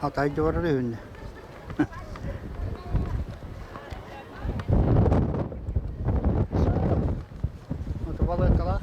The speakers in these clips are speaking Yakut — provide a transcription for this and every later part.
Хатай дьуорар үһүннэ. Утубалыыккалаах.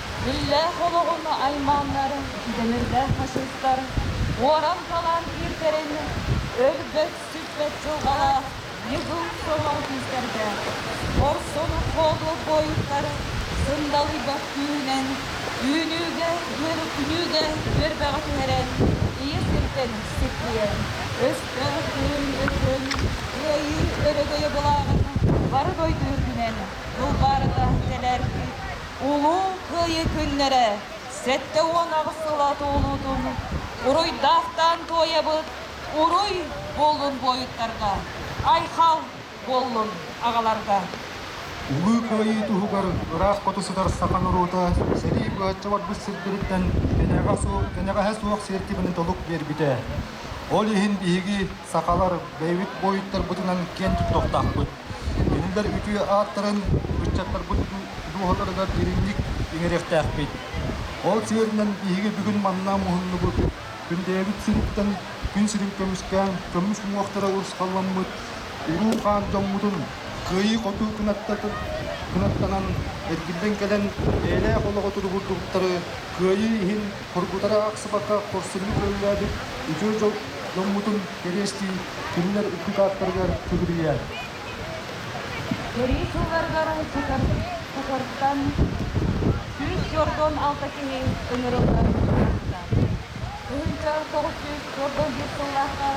Дьүүллээх олоҕун айманар, дэнэрдээх ачыттар уоран-талан иирдэрин өлбөт-сүппэт дьылҕалаах Ньыгыл Сонор күүстэргэ хорсун холобуруттар сындалыйбат күүһүнэн үүнүүгэ диэри күнүүгэ үөрбэҕи түһэрэн ии сиртэн сиппийэн өстөөх бүгүн-өтүн кыайыы өрөгөйө былааҕын бары дойду үрдүнэн дулҕаарына тэлээргиир Улуу Кыайыы күннэрэ сэттэ уон аҕыс сыла туолуутун уруйдаахтаан туойабыт уруй буоллун буойуттарга, айхал буоллун аҕаларга! Улуу Кыайыы туһугар ыраах хоту сытар саха норуота сэрии быһачча барбыт сирдэриттэн кэнэҕэһэ суох сиэртибэни толук биэрбитэ. Ол иһин биһиги Сахалар бэйэбит буойуттарбытынан киэн туттуохтаахпыт. Кинилэр үтүө ааттарын ыччаттарбыт дууһаларыгар дириҥник иҥэриэхтээхпит. Ол сиэринэн биһиги бүгүн манна муһуннубут күн бэйэбит сириттэн күн сирин көмүскээн көмүс уҥуохтара урусхалламмыт уруу хаан дьоммутун кыайыы хоту кынаттанан эргиллэн кэлэн бэйэлээх олоҕо туругурдубуттары кыайыы иһин хоргутара аахсыбакка хорсуннук өрүлээбит үтүө дьол Дьоммутун кэриэстии кинилэр икки ааттарыгар сүгүрүйэ. Сэрии сылларыгар уопутар куһартан сүүс сордон алта киһи ыҥырыллан турбуттар. Тыһыынча тоҕус сүүс сордон биир сыллаахха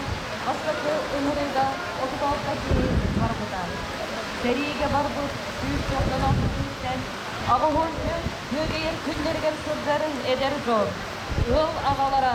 бастакы ыҥырыыга отут алта киһи барбыта. Сэриигэ барбыт сүүс сордон алта киһиттэн аҕыһын бүөтэйэр күннэригэр сылдьарын эдэр дьон, ыал аҕалара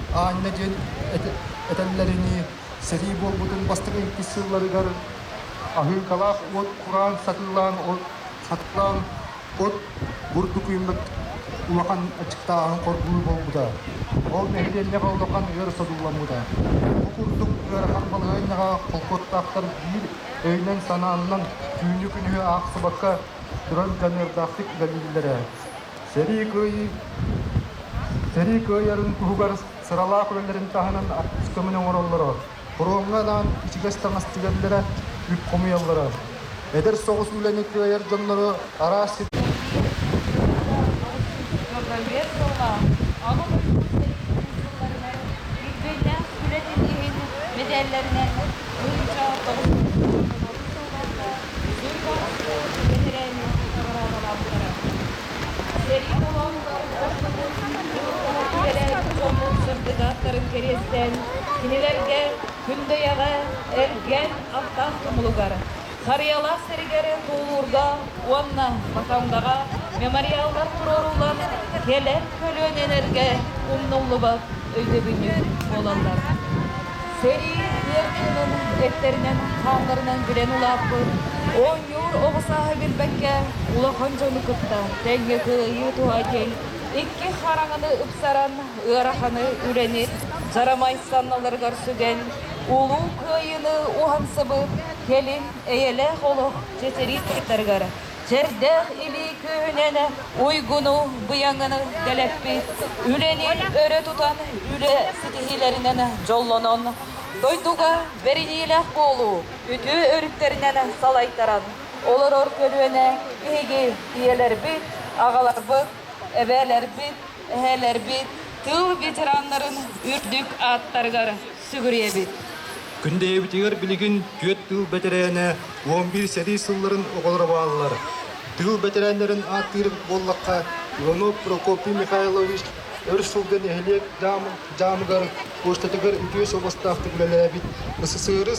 Аанньа диэн этэллэринии, сэрии буолбутун бастакы иккис сылларыгар аһыыҥкалаах уот кураан сатыылаан, сатыылаан от бурдук үүммүт улахан аччыктааһын хоргуйуу буолбута. Ол нэһилиэнньэҕэ улахан ыар содулламмыта. Бу курдук ыарахан балаһыанньаҕа холкуоттаахтар биир өйүнэн-санаанынан түүнү-күнүһү аахсыбакка туран дьаныардаахтык үлэлииллэрэ. Сэрии кыайыы сэрии кыайарын туһугар сыралаах үлэлэрин таһынан артыыс көмөнү оҥороллоро, фроҥҥа анаан ичигэс таҥас тигэллэрэ, үп хомуйаллара. Эдэр соҕус үлэни кыайар дьоннору араас Бэбиэт сыла аҕам өлбүт сэриитин сылларыгар үчүгэйдээх үлэтин иһин мэдээллэринэн буйунша тоҕус Музей баһылыгын бэтэрээннэрин наҕараадалаахтара. Сэрии холоотугар дьоннорун кыһыллара иҥэрээт дьоммут сырдатааттарын кэриэстэн, кинилэргэ Күндэйэҕэ эргэн аттаах тумулугар, Харыйалаах сэригэр туулуурга уонна Матандаҕа мемориаллар туруоруулар кэлэр көлүөнэлэргэ умнуллубат өйдөбүнньүк буолаллар. Сэрии сиэринэн эттэринэн, хааннарынан билэн улааппыт, оонньуур оҕо сааһы билбэккэ улахан дьону кытта тэҥҥэ кыайыы туһа дьиҥ икки хараҥаны ыпсаран, ыараханы үрэнит, дьарамай санналарыгар сүгэн, улуу кыайыыны уһансыбыт кэлин эйэлээх олох дьитириир туттарыгар Сэрдэх илии күүһүнэн уйгуну-быйаҥыны дэлэппит, үлэни өрө тутан үлэ ситиһиилэринэн дьоллонон, дойдуга бэриниилээх буолуу үтүө өрүттэринэн салайтаран олорор көлүөнэ биһиги ийэлэрбит, аҕаларбыт, эбээлэрбит, эһээлэрбит тыыл ветераннарын үрдүк ааттарыгар сүгүрүйэбит. Күн бэйэбитигэр билигин түөрт тыыл бэтэрээнэ уон биир сэрии сылларын оҕолоро бааллар. Тыыл бэтэрээннэрин ааттыыр буоллахха, Иванов Прокопий Михайлович өр сылга нэһилиэк дьаамыгар пуоштатыгар үтүө собостаахтык үлэлээбит СССР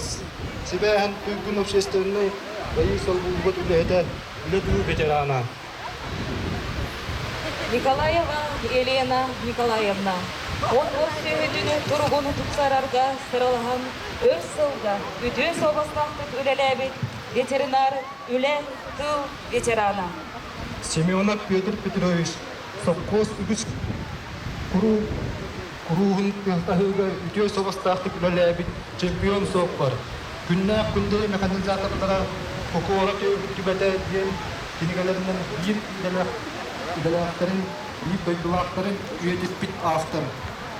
сибээһин туйгун общественнай дьайыы солбуллубут үлэһитэ, үлэ тыыл бэтэрээнэ. Николаева Елена Николаевна он бос сүһүтүнү туругун тупсарарга сыралаһан өр сылга үтүө суобастаахтык үлэлээбит ветеринар үлэ тыл ветерана. Семенов Петр Петрович сопхуос үгүс куруук Курууһун тыастаһыыга үтүө сабастаахтык үлэлээбит чемпион суоппар, күннээх күндэри механизатордара Кокуора түбэтэ диэн кинигэлэринэн биир идэлээхтэрин, биир дойдулаахтарын үйэтиппит автор.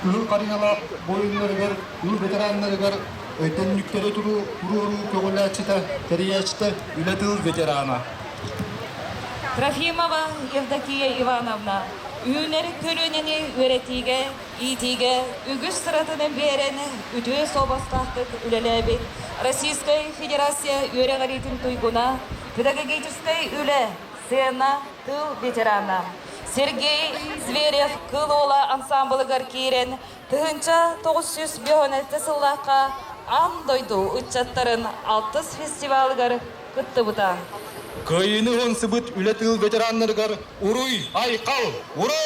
Кыһыл харыйалаах буойуннарыгар, кыыл ветераннарыгар өйдөннүктэри туруоруу көҕүлээччитэ, тэрийээччитэ, үлэ тыл ветерана. Трофимова Евдокия Ивановна Үүнэр көлүөнэни үөрэтиигэ, иитиигэ үгүс сыратаны биэрэн үтүө суобастаахтык үлэлээбит Российскай Федерация үөрэҕириитин туйгуна, педагогическай үлэ, сцена, тыл ветерана Сергей Зверев Кыл Уола ансаамбылыгар киирэн Тыһыынча тоҕус сүүс биэһүнэлтэ сыллаахха Аан дойду ыччаттарын алтыс фестивалыгар кыттыбыта. Кыайыыны ылымсыбыт үлэ тыыл ветераннарыгар уруй-айхал, ура!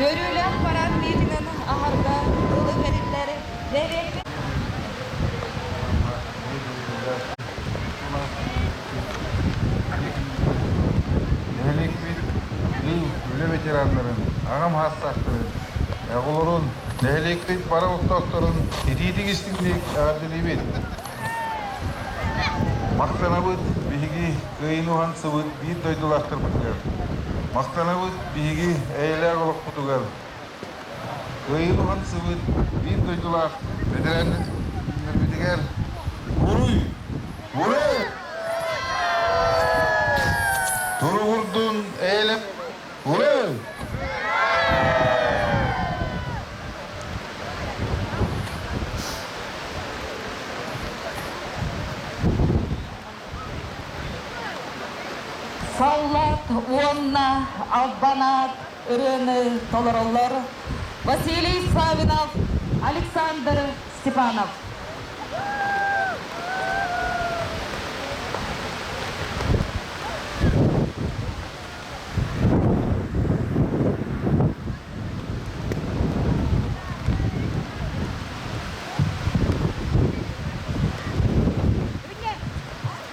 Үөрүүлээх параад миитиҥин аһарга тылы тэриллэр нэһилиэкпит Нэһилиэкпит мин үлэ ветераннарын, аҕам саастаахтарын, оҕолорун, нэһилиэкпит бары олохтоохторун итиитик истиҥник эҕэрдэлиибит. Махтанабыт биһиги кыайын уһансыбыт биир дойдулаахтарбытыгар. Махтанабыт биһиги эйэлээх олохпутугар. Кыайыы хамсыбыт биир дойдулаах бэтэрээннэрбитигэр уруй! Уруй! Туругурдун Ээлэм! Уруй! Саллаат уонна албанаат ырыаны толороллор Василий Славинов, Александр Степанов.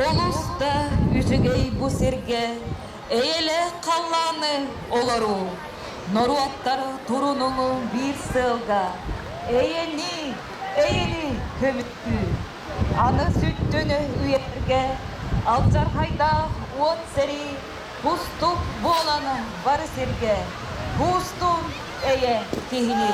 Олус да үчүгэй бу сиргэ эйэлэ халлааны олоруу. Норуоттар турунуну биир сыалга эйэни, эйэни көмүттүүр. Аны сүттүнү үйэтгэ алдьархайдаах уот сэрии бустук буолан бары сиргэ буустун эйэ киһини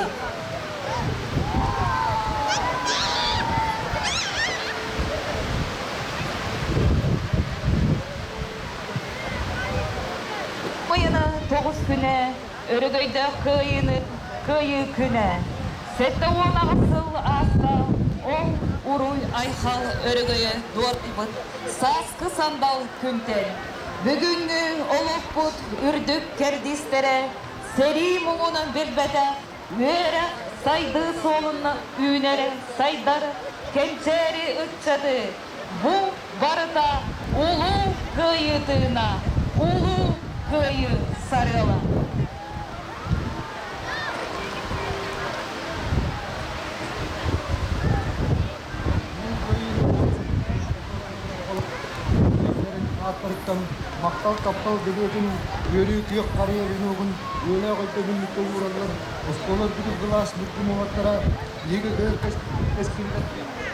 Быйана тоҕус күнэ Өрөгөйдөөх Кыайыыны Кыайыы күнэ сэттэ уон аҕыс сыл ааста. Ол уруй-айхал өрөгөйө дуоттубут сааскы сандал күнтэн бүгүҥҥү олохпут үрдүк кэрдиистэрэ сэрии муҥунан билбэтэх үөрэх, сайдыы суолунна үүнэрэ сайдар, кэнчээри ыччаты Бу барыта Улуу Кыайыы тыына, Улуу Кыайыы сарыала. ааттарыттан махтал таптал бэлиэтин үөрүү күөх харыйа веногун үөлээх өйдөбүннүккэ уураллар оскуолар бүдүс былаас бүккүм уҥаттара лига өр кэскилигэр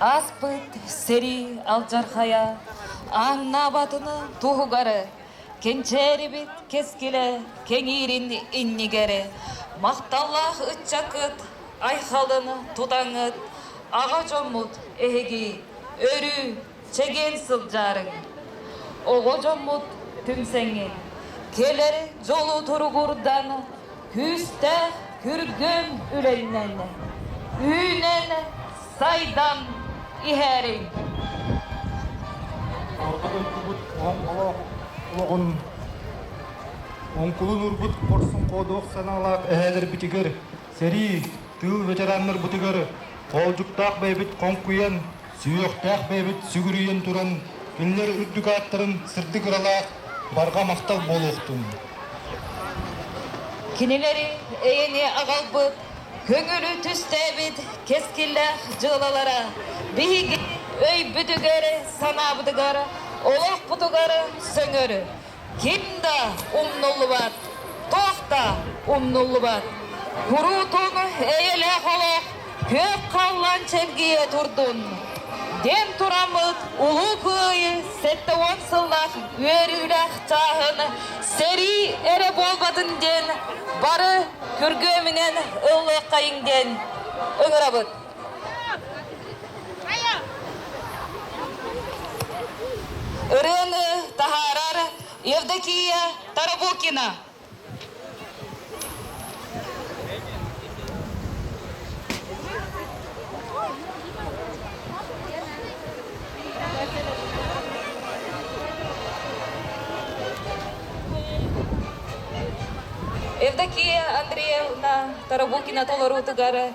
Ааспыт сэрии алдьархайа ааҥнаабатына туһугары, кэнчээрибит кэскилэ кэҥиирин иннигэри, махталлаах ыччаккыт айхалын тутаҥыт, аҕа дьоммут эһиги өрүү Чэгиэн сылдьарыҥ, оҕо дьоммут түмсэҥҥин. Кэлэр дьолу туругурдан, күүстээх күргүөм үлэннэн, үүнэн, сайдан иһэриҥ. Орто дойдубут оҥолоох олоҕун оҥкулун уурбут хорсун-ходох санаалаах эһээлэрбитигэр Сэрии тыыл ветераннарбытыгар хоолдьуктаах бэйэбит хоҥкуйан, сүһүөхтээх бэйэбит сүгүрүйэн туран, кинилэр үрдүк ааттарын сырдык ыралаах барҕа махтал буолуохтун! Кинилэри эйэни аҕалбыт, көҥүлү түстээбит кэскиллээх дьыалалара биһиги өйбүтүгэр-санаабытыгар, олохпутугар сөҥөр, Ким да умнуллубат, туох да умнуллубат куруутун эйэлээх олох күөх халлаан чэлгийэ турдун! диэн тураммыт Улуу Кыайыы сэттэ уон сыллаах үөрүүлээх чааһын сэрии эрэ буолбатын диэн бары күргүөмүнэн ыллыаххайыҥ диэн ыҥырабыт! ырыаны таһаарар Евдокия Тарабукина. Евдокия Андреевна Тарабукина толоруутугар